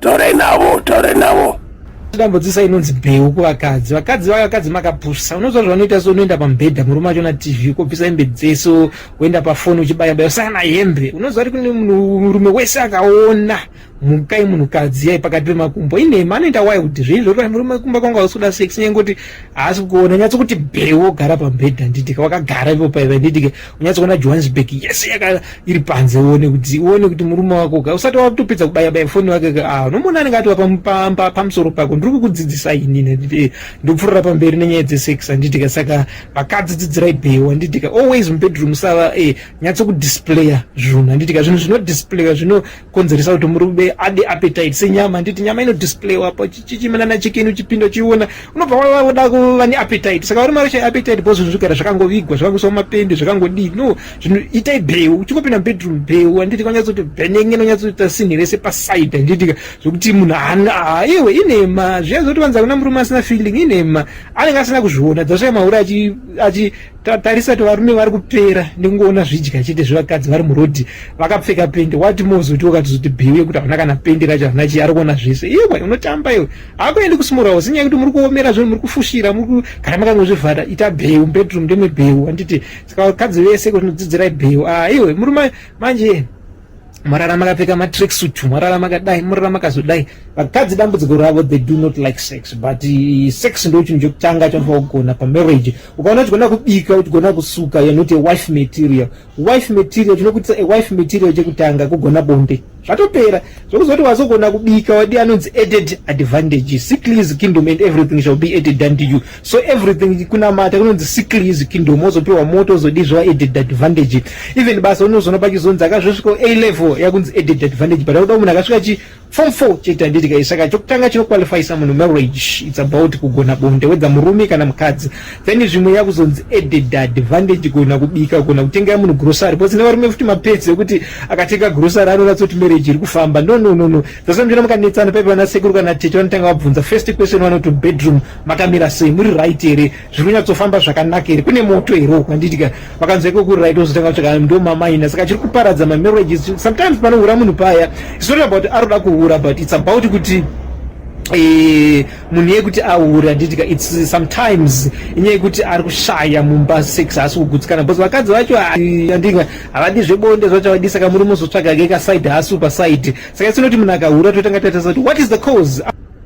Tore navo, tore navo. Dambudzisa inonzi bheu kuvakadzi. Vakadzi vaya vakadzi makapusa. Unoziva zvavanoita so unoenda pamubhedha murume acho na TV kopisa hembe dzeso woenda pafoni uchibaya baya sana hembe. Unoziva kuti murume wese akaona mukai munhu kadzi yai pakati pemakumbo inhema anoita wai kuti zvinhu zvekuti murume kumba kwanga ausuda sex nyaya kuti haasi kuona nyatso kuti bheu wogara pamubhedha nditike wakagara ipo paiva nditike unyatso kuona johannesburg yese yaka iri panze uone kuti uone kuti murume wako ka usati watopedza kubaya baya foni wake ka ah unomuona anenge ati wapa pamusoro pako ndiri kukudzidzisa ini nekuti eh, ndopfurira pamberi nenyaya dzesex handiti ka saka vakadzi dzidzirai bheyo handiti ka always mubedroom sava eh nyatso kudisplaya zvinhu handiti ka zvinhu zvinodisplaya zvino konzeresa kuti murume ade appetite senyama nditi nyama ino displayiwa pa chichimanana chikeni uchipinda uchiona unobva wavoda kuva neappetite saka uri mari shaya appetite bho zvinhu zvigara zvakangovigwa zvakangoiswa mapende zvakangodii no zvinhu itai bheu uchingopinda mubedroom bheu handiti kwanyatsoti bhenenge inonyatsoita sinhi rese paside handitika zvokuti munhu haana ah, iwe inhema zviya zoti vanza kuna murume asina feeling inhema anenge asina kuzviona dzasvaya mahure achi tatarisa kuti varume vari kupera nekungoona zvidya chete zvevakadzi vari murodhi vakapfeka pendi wati mozotiwo katizoti bhiwi yekuti havana kana pendi racho havana chii ari kuona zvese iwe unotamba iwe hakuendi kusimurawo sinyaya yekuti muri kuomera zvinhu muri kufushira kana makangozvivhara ita bheu mubedroom ndemwe bheu handiti saka vakadzi vese kuti nodzidzirai bheu a ah, iwe muri manje mwarara makapfeka matracksuit mwarara makadai murara makazodai vakadzi dambudziko ravo they do not like sex but eh, sex ndo chinhu chekutanga chaunofa kugona pamarriage ukaona uchigona kubika uchigona kusuka you're not a wife material wife material chinokuitisa a wife material chekutanga kugona bonde zvatopera zvokuzoti wazogona kubika wadi anonzi added advantage sick lease kingdom and everything shall be added unto you so everything kunamata kunonzi sikli izvi kingdom ozopiwa moto ozodii zvava added advantage even basa unozoona pachizonzi akazvosvikawo a level yakunzi added advantage but akuda munhu akasvika chi form four chete handiti kai saka chokutanga chinoqualifyisa munhu marriage its about kugona bonde wedza murume kana mukadzi then zvimwe yakuzonzi added advantage kugona kubika kugona kutengera munhu grocery because nevarume futi mapedzi ekuti akatenga grocery anonatsa kuti marriage iri kufamba no no no no that's why muchiona mukanetsana paipa vanasekuru kana tete vanotanga vabvunza first question vanoti bedroom makamira sei muri right here zviri kunyatsofamba zvakanaka here kune moto here uku handiti ka vakanzwa iko kuri right ozotanga kutsvaka ndo mamaina saka chiri kuparadza mamarriages sometimes panohura munhu paya it's not about aroda kuhura but it's about kuti Eh, munhu yekuti ahure anditika its sometimes inyaya yekuti ari kushaya mumba sex haasi kugutsikana bcause vakadzi vacho andika ah, havadi zvebonde zvacho havadi saka muri muzotsvaga ke kaside haasi upa side saka isinoti munhu akahura totanga tatasa kuti what is the cause